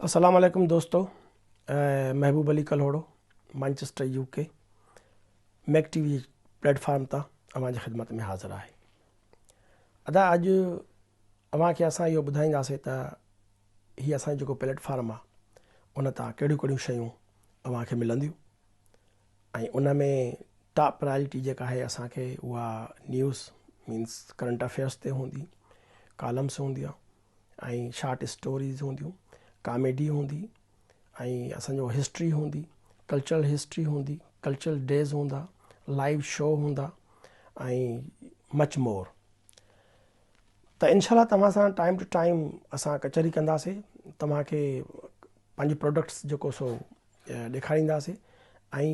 السلام عليڪم دوستو Mehboob Ali Kalhoro Manchester U K Mak T V platform تان اوهان جي خدمت ۾ حاضر آهي ادا اڄ اوهان کي اسان اهو ٻڌائينداسي ته هي اسان جو جيڪو پليٽ فارم آهي ان تان ڪهڙيون ڪهڙيون شيون اوهان کي ملنديون ۽ ان ۾ ٽاپ پرائرٽي جيڪا آهي اسان کي اها نيوز مينس ڪرنٽ افيئرس تي هوندي ڪالمس هونديون ۽ شارٽ اسٽوريز هونديون، ڪاميڊي هوندي ۽ اسان جو هسٽري هوندي، ڪلچرل هسٽري هوندي، ڪلچرل ڊيز هوندا، لائيو شو هوندا ۽ مچ مور. ته انشاء الله توهان سان ٽائيم ٽو ٽائيم اسان ڪچهري ڪنداسين، توهان کي پنهنجي پروڊڪٽس جيڪو سو ڏيکارينداسين ۽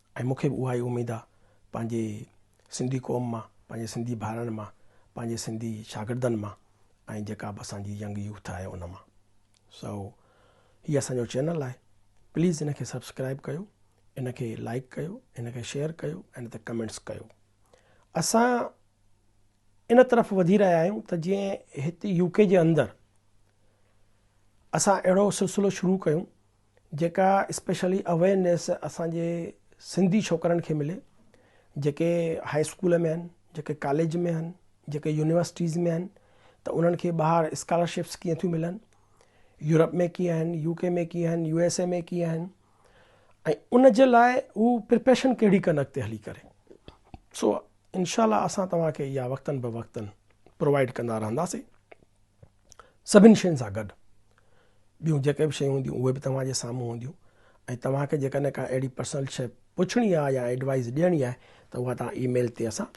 ۽ مون کي به اها ئي اميد آ پنهنجي سنڌي قوم مان پنهنجي سنڌي ڀائرن مان پنهنجي سنڌي شاگردن مان ۽ جيڪا به اسان جي ينگ يوٿ آهي ان مان سو هي اسان جو چينل آهي پليز ان کي سبسڪرائب ڪيو ان کي لائڪ ڪيو ان کي شيئر ڪيو ۽ ان تي ڪمينٽس ڪيو اسان ان طرف وڌي رهيا آهيون ته جيئن هت يو ڪي جي اندر اسان اهڙو سلسلو شروع ڪيون جيڪا اسپيشلي اويرنيس اسان جي سنڌي ڇوڪرن کي ملي جيڪي هاء اسڪول ۾ آهن جيڪي ڪاليج ۾ آهن جيڪي يونيورسٽيز ۾ آهن ته انهن کي ٻاهر اسڪالرشپس ڪيئن ٿيون ملن يورپ ۾ ڪيئن آهن يو ڪي ۾ ڪيئن آهن يو ايس اي ۾ ڪيئن آهن ۽ ان جي لاء هو پرپيشن ڪهڙي ڪن اڳتي هلي ڪري سو انشاء الله اسان توهان کي اها وقتن به وقتن پرووائڊ ڪندا رهنداسين سڀني شين سان گڏ ٻيون جيڪي به شيون هونديون اهي به توهان جي سامهون هونديون ۽ توهان کي جيڪڏهن ڪا اهڙي پرسنل شي پڇڻي آهي يا ايڊوائز ڏيڻي آهي ته اها توهان اي ميل تي اسان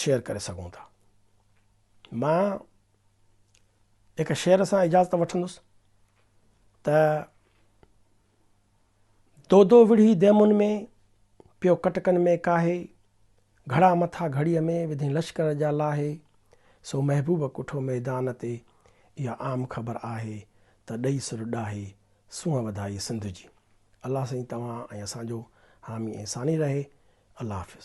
شيئر ڪري سگهون ٿا مان هڪ شعر سان اجازت وٺندس ته دودو وڙهي ديمن ۾، پيو ڪٽڪن ۾ ڪاهي، گهڙا مٿا گهڙيء ۾ وڌين لشڪر جا لاهي، سو محبوب ڪٺو ميدان تي، اها عام خبر آهي، ته ڏئي سر ڏاهي، سونهن وڌائي سنڌ جي. الله سائين توهان ۽ اسان جو حامي ۽ ثاني رهي. الله حافظ.